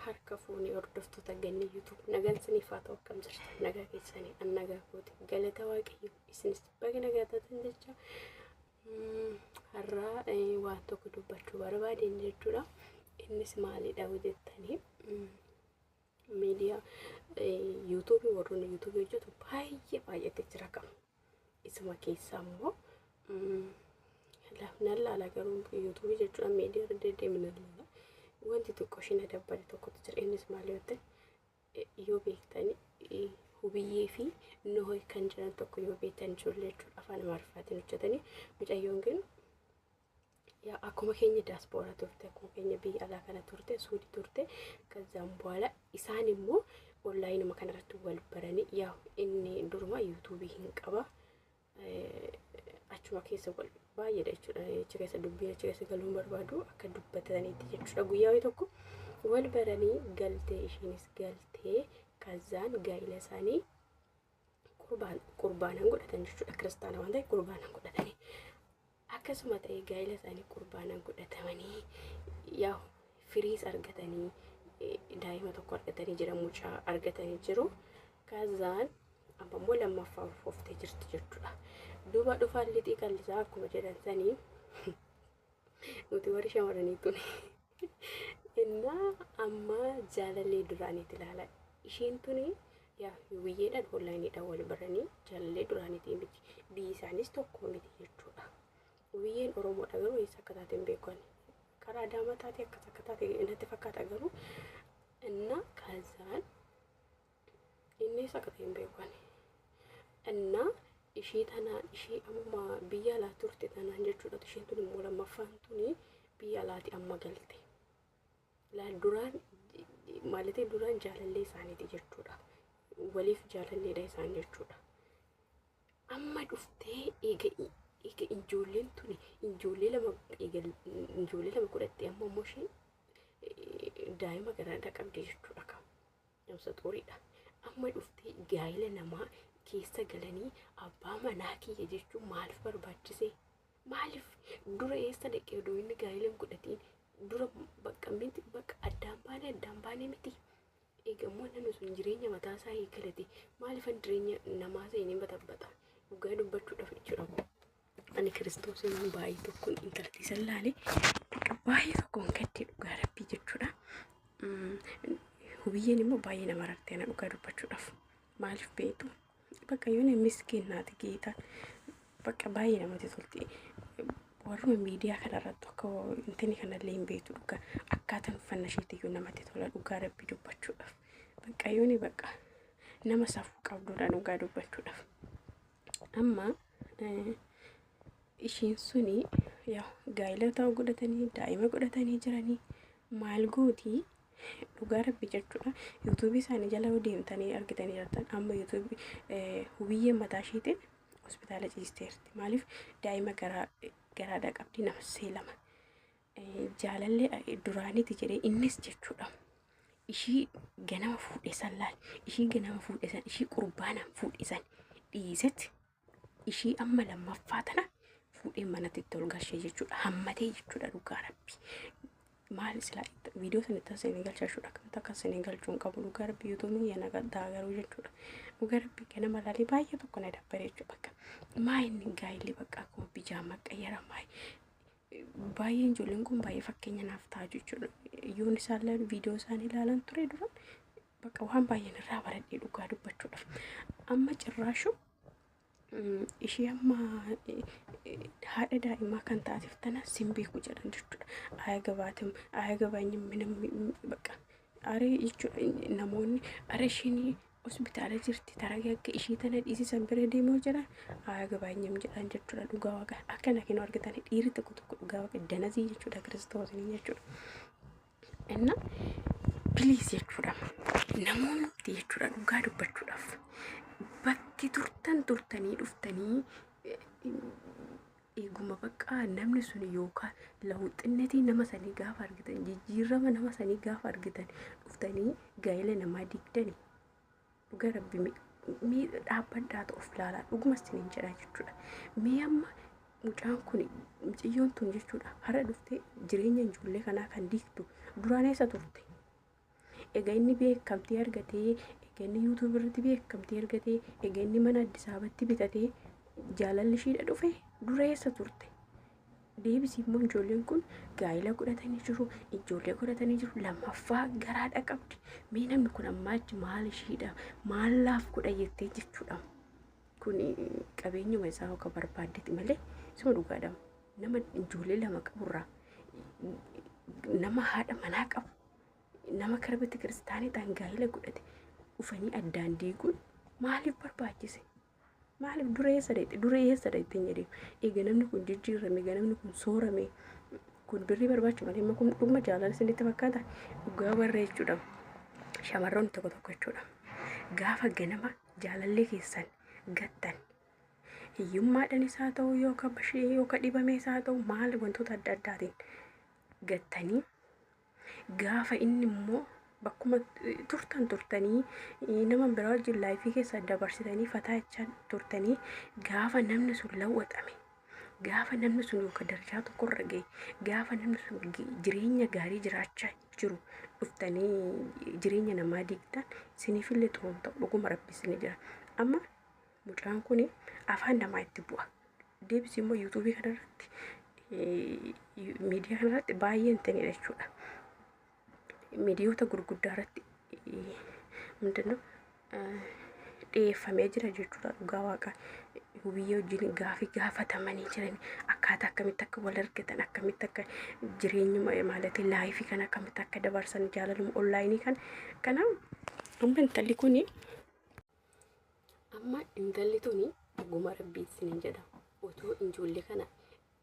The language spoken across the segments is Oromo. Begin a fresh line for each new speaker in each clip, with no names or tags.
harka fuunee hordoftoota ganna yuutuub nagaan isiniif haa ta'u akkam jirtu nagaa keessanii an nagaa kooti galata waaqayyo isinis baga nagaa taatan jecha har'aa waan tokko dubbachuu barbaadeen jechuudha innis maalidha jettanii Miidiyaa yuutuubii warroonni yuutuubii hojjetu baay'ee baay'ate jira qabu. Isuma keessaa immoo nan laala garuu yuutuubii jechuudha miidiyaa irra deddeebiin nan laala. Wanti xiqqoo isheen adabbare tokkotu jira innis maal yoo ta'e yoo beektan hubiyyee fi noohi kan jiran tokko yoo beektan ijoollee jechuudha afaan amaariffaatiin hojjetanii mucayyoon kun yaa akkuma keenya daaspooraa turte akkuma keenya biyya alaa kana turte suudi turte kazzaan boola isaan immoo onlaayinuma kanarratti wal baranii yaa inni duruma yuutuubii hin qaba achuma keessa wal baay'eedha jechuudha achi keessa dubbiin achi keessa galuu hin barbaadu akka dubbataniitti jechuudha guyyaa wayii tokko wal baranii galtee ishiinis galtee kazzaan gaa'ila isaanii qurbaan qurbaanan godhatan jechuudha kiristaana waan ta'eef qurbaanan godhatanii akkasuma ta'ee gaa'ila isaanii qurbaanan godhatamanii yaa firiis argatanii eh, daa'ima tokko argatanii jira mucaa argatanii jiru kaazaan amma immoo lammaffaa ulfooftee jirti jechuudha duuba dhufaan lixii qallisaa akkuma jedhan sanii Nuti warri shamarranii tuni. Innaa amma jaalallee duraaniiti ilaala. Ishiin tuni yaa hubiyyeedhaan hollaayiniidhaan wal baranii jaalallee duraaniitii miti. Biyyi isaanis tokko miti jechuudha. Hubiyyeen Oromoodha garuu eessa akka taate hin beeku ani. Karaa Adaamaa taate akkas akka taate natti fakkaata garuu innaa kaasaan Inni eessa akka ta'e hin beeku ani. Innaa ishii tanaan ishii amma biyya alaa turte tanaan jechuudha isheen tun immoo lammaffaan tuni biyya alaati amma galte. Laal duraan maalatee duraan jaalallee isaaniiti jechuudha. Waliif jaalalleedha isaan jechuudha. Amma dhuftee eega eega ijoolleen tuni ijoollee lama eega ijoollee lama godhattee amma immoo isheen daa'ima garaadhaa qabdi jechuudha kan. Namsa xuuriidha. Amma dhuftee gaa'ila namaa keessa galanii abbaa manaa kiyya jechuun maaliif barbaachise? Maaliif dura eessa dhaqee odoo inni gaa'ila hin godhatiin dura bakka miti bakka addaan baane addaan baane miti. Eegammoo namni sun jireenya mataa isaa eegalate maaliifan jireenya namaa seenee batabbata? Dhugaa dubbachuudhaaf jechuudha. ani kiristoosiin hin baay'ee tokko intalti isa laale bakka baay'ee tokko hin gadde dhugaa rabbii jechuudha. Hubiyyeen immoo baay'ee nama rartee ana dhugaa dubbachuudhaaf maaliif beektu bakka yoona miskiin naati geeta bakka baay'ee namatti tolti. Warruma miidiyaa kanarratti akka intini kanallee hin beektu dhugaa akkaataan uffannaa isheetiyyuu namatti tola dhugaa rabbii dubbachuudhaaf bakka yooni bakka nama safuu qabduudha dhugaa dubbachuudhaaf. Amma ishiin suni gaa'ila ta'uu godhatanii daa'ima godhatanii jiranii maal gooti dhugaa rabbi jechuudha yuutuubii isaanii jala deemtanii argitanii jirtan amma yuutuubii hubiyyee mataa ishiitiin hospitaala ciisteerti maaliif daa'ima garaadha qabdi nama seelama jaalallee duraaniiti jedhee innis jechuudha. Ishii ganama fuudhe san laal. Ishii ganama fuudhe san ishii qurbaanaan fuudhe san dhiisetti ishii amma lammaffaa tana fuudhee manatti itti ol galchee jechuudha. Hammatee jechuudha dhugaa rabbi. Maal silaa viidiyoo sana itti seenee galchaa jechuudha. Akkamitti akka seenee galchuu hin qabu dhugaa rabbi yuutuubiin yana gaddaa garuu jechuudha. Dhugaa rabbi ganama laalee baay'ee tokko na dabbare jechuudha. Bakka maa inni gaa'illi bakka akkuma bijaamaa qayyara maa Baay'een ijoolleen kun baay'ee fakkeenya naaf ta'a jechuudha. Yoon isaan ilaalu viidiyoo isaan ilaalan ture dura bakka waan baay'een irraa baradhee dhugaa dubbachuudhaaf. Amma cirraashu ishee amma haadha daa'imaa kan taateef tana sin beeku jedhan jechuudha. Aya gabaatim aya gabaanyim minam bakka Are jechuun namoonni are ishiin hospitaala jirti taragee akka ishii tana dhiisisan bira deemoo jira aayaa gabaanyam jedhaan jechuudha dhugaa waqa akkana kenuu argatan dhiirri tokko tokko dhugaa waqa danazii jechuudha kiristoosni jechuudha. Inna piliis jechuudha namoonni jechuudha dhugaa dubbachuudhaaf bakki turtan turtanii dhuftanii Eeguma bakka namni sun yookaan lawuxinnetii nama sanii gaafa argitan jijjiirama nama sanii gaafa argitan dhuftanii gaa'ela namaa diigdani dhuga rabbi mi- mi- dhaabbadhaatu of ilaalaa dhuguma isiniin jedha jechuudha. Mee amma mucaan kun miciyyoon tun jechuudha har'a dhuftee jireenya ijoollee kanaa kan diigdu duraan eessa turte? Ega inni beekamtii argatee, ega inni YouTube irratti beekamtii argatee, ega inni mana Addis Ababatti bitatee jaalalli ishiidha dhufe dura eessa turte? Deebisii immoo ijoolleen kun gaa'ila godhatanii jiru, ijoollee godhatanii jiru, lammaffaa garaadha qabdi. Mee namni kun ammaa achi maal ishiidha, maal laaf godha jettee jechuudha. Kun qabeenyuma isaa akka barbaaddeti malee suma dhugaadha. Nama ijoollee lama qaburraa nama haadha manaa qabu nama kara bete kiristaanii ta'an gaa'ila godhate dhufanii addaan diiguun maaliif barbaachise? Maaliif dura eessa dhaqxe? Dura eessa dhaqxe hin jedhee. Egaa namni kun jijjiirame, egaa namni kun soorame. Kun birrii barbaacha malee amma kun dhuguma jaalala isinitti fakkaata. Dhugaa warra jechuudha. Shamarroonni tokko tokko jechuudha. Gaafa ganama jaalallee keessan gattan hiyyummaadhaan isaa ta'u yookaan bashee yookaan dhibamee isaa ta'u maal wantoota adda addaatiin gattanii Gaafa inni immoo bakkuma turtan turtanii nama biraa wajjin laayifii keessa dabarsitanii fataa jechaa turtanii gaafa namni sun lawwaxame gaafa namni sun yookaan darajaa tokkorra gahe gaafa namni sun jireenya gaarii jiraachaa jiru dhuftanii jireenya namaa diigdan siniifillee xuruun ta'u dhuguma rabbi isin jira amma Mucaan kun afaan namaa itti bu'a. Deebisii immoo yuutuubii kanarratti miidiyaa kanarratti baay'ee hin ta'inidha jechuudha. Miidiyoota gurguddaa irratti mindinno dhiyeeffamee jira jechuudha dhugaa waaqa hubiyyee wajjin gaafii gaafatamanii jiran akkaataa akkamitti akka wal argatan akkamitti akka jireenya maallatii laayifii kan akkamitti akka dabarsan jaalaluma onlaayinii kan kana amma intalli kuni Amma intalli tuni dhuguma rabbii isiniin jedha otoo ijoollee kana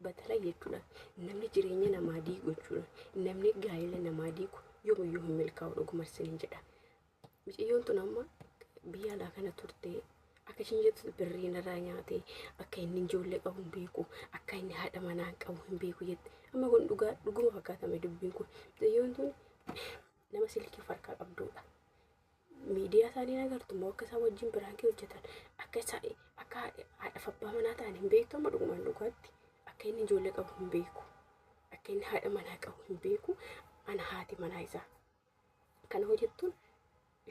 batala jechuudha namni jireenya namaa diigu jechuudha namni gaa'ela namaa diigu yoomiyyuu hin milkaa'u dhuguma isiniin jedha. Miciyyoon tun amma biyya alaa kana turtee akka ishiin jettu birrii narraa nyaatee akka inni ijoollee qabu hin beeku akka inni haadha manaa qabu hin beeku jette amma kun dhugaa dhuguma fakkaatame dubbiin kun miciyyoon tun nama silkii farkaa qabduudha. miidiyaa isaanii agartu immoo akka isaan wajjin biraankii hojjetan akka isaa akka haadhaaf abbaa manaa ta'an hin beektu amma dhugumaan dhugaatti akka inni ijoollee qabu hin beeku akka inni haadha manaa qabu hin beeku ana haati manaa isaa kana hojjettuun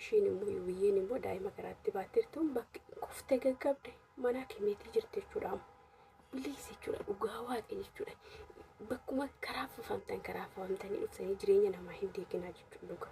ishiin immoo yuuyyeen immoo daa'ima garaatti baattirtuun bakki kuftee gaggabde manaa kenneetii jirti jechuudha amma. Biliis jechuudha dhugaa waaqa jechuudha. Bakkuma karaa fufamtan karaa fufamtanii dhuftanii jireenya namaa hin deeginaa jechuudha dhugaa.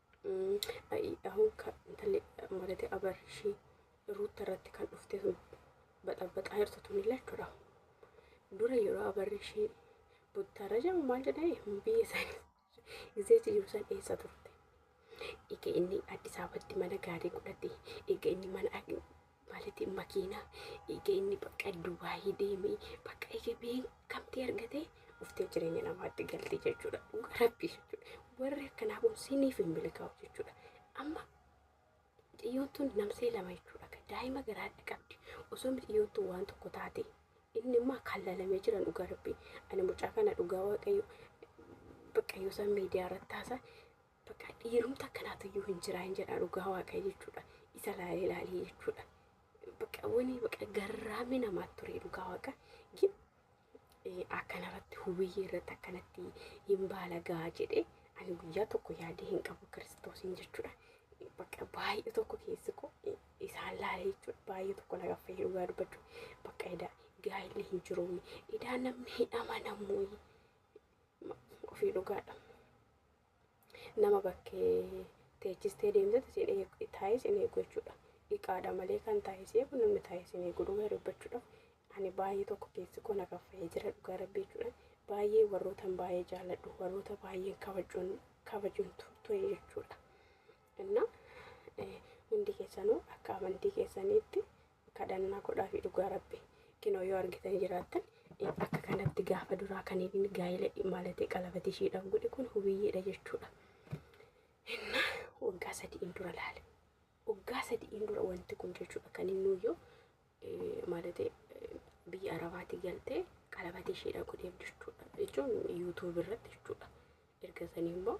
Ayi ahun ka intalli maratee abarshi ruutta irratti kan dhufte sun baxabaxaa jirtu tun lachuudha. Dura yeroo abarshi buttaarra jedhamu maal jedhani biyya isaanii iseechi jiru san eessa turte. Ega inni Addis Ababatti mana gaarii godhate ega inni mana Malitin makiina ega inni bakka Dubai deeme bakka ega beekamtii argate dhuftee jireenya namaatti galti jechuudha. Dhuga rabbii jechuudha. Warri akkanaa kun siniif hin milkaa'u jechuudha. Amma xiyyoon tun namsee lama jechuudha. Daa'ima garaadha qabdi. Osoo xiyyoon tun waan tokko taate inni immoo kan lalamee jiran dhuga rabbii. Ani mucaa kana dhugaa waaqayyo bakka yoo isaan miidiyaa irratti haasaa Bakka dhiirumta akkanaatu iyyuu hin jiraa hin jedhaa dhugaa waaqa jechuudha. Isa laalee laalee jechuudha. Bakka wani bakka garraamni namaatti ture dhugaa waaqa. Gin akkanarratti hubiyyee irratti akkanatti hin baalagaa jedhe ani guyyaa tokko yaadee hin qabu kiristoosiin jechuudha. Bakka baay'ee tokko keessi koo isaan laalee jechuudha. Baay'ee tokko na gaffee dhugaa dubbachuu. Bakka edaa gaa'illi hin jiru. Edaa namni hin amanamu. Ofii dhugaadha. nama bakkee teechistee deemtetti isin eegu taa'ee isin eegu jechuudha. Dhiqaadha malee kan taa'ee si eegu namni taa'ee isin eegu dhugaa dubbachuudhaaf ani baay'ee tokko keessi koo na kaffa'ee jira dhugaa rabbii jechuudha. Baay'ee warrootan baay'ee jaaladhu warroota baay'een kabajuun kabajuun turtue jechuudha. Innaa eh, hundi keessanuu akka amantii keessaniitti kadhannaa godhaafi dhugaa rabbi kinoo yoo argitan jiraattan akka kanatti gaafa duraa kan inni gaa'ila maalatee qalabati ishiidhaaf godhe kun hubiyyeedha jechuudha. Inna waggaa sadi'iin dura laale. Waggaa sadi'iin dura wanti kun jechuudha kan inni nuyyoo maalatee biyya arabaati galtee qalabati ishiidhaaf godheef jechuudha. Jechuun yuutuubi irratti jechuudha. Erga sanii immoo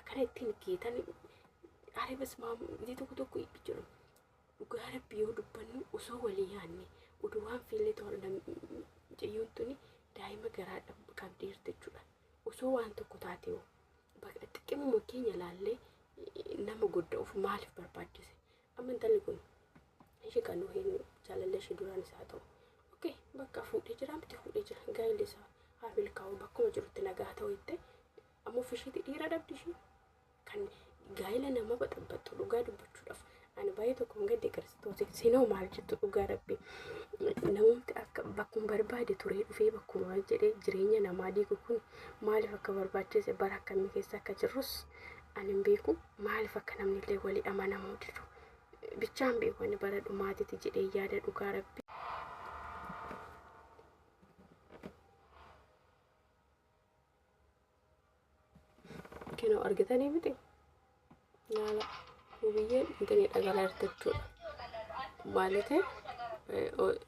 akkana ittiin geetanii are basmaam ijii tokko tokko itti jiru dhugaa rabbi yoo dubbannu osoo walii yaanne oduu waan fiillee ta'u mucayyoon tuni daa'ima garaa dhab- qabdee jirti jechuudha osoo waan tokko taate hoo bakka xiqqimuma keenya laallee eh, nama godda of maaliif barbaachise Amma intalli kun ishee kan nu hin jaalallee ishee duraanis haa ta'u. Okkee bakka fuudhee jira miti fuudhee jira gaa'illi isaa haa milkaa'u bakkuma jirutti nagaa ta'u jettee amma ofishiitti dhiira dhabdi ishee kan gaa'ila nama baxabbaxxu dhugaa dubbachuudhaaf ani baay'ee tokko hin gadde kiristoosiin sinoo maal jettu dhugaa rabbi namumti akka bakkuma barbaade turee dhufee bakkuma jedhee jireenya namaa diigu kun maaliif akka barbaachise bara akkamii keessa akka jirrus Ani hin beeku maaliif akka namni illee walii amanamuu didu. Bichaan beeku ani bara dhumaatiti jedhee yaada dhugaa rabbi. Kenoo argitanii miti? Laala. Wubiyyeen intini dhagalaa jirti jechuudha. Maalite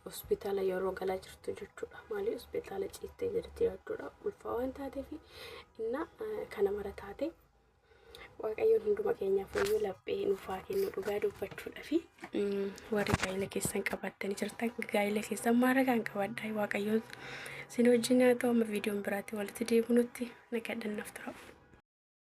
hospitaala yeroo galaa jirtu jechuudha. Maali hospitaala ciittee jirti jechuudha. Ulfaa waan taateef inna kana mara taate waaqayyoon hunduma keenyaaf fayyuu laphee nuuf haa kennu dhugaa dubbachuudha fi warri gaa'ila keessan qabattanii jirtan gaa'ila keessan maara kan qabadha waaqayyoon sin wajjin haa ta'u amma viidiyoon biraatti walitti deebinutti nagadhannaaf tura.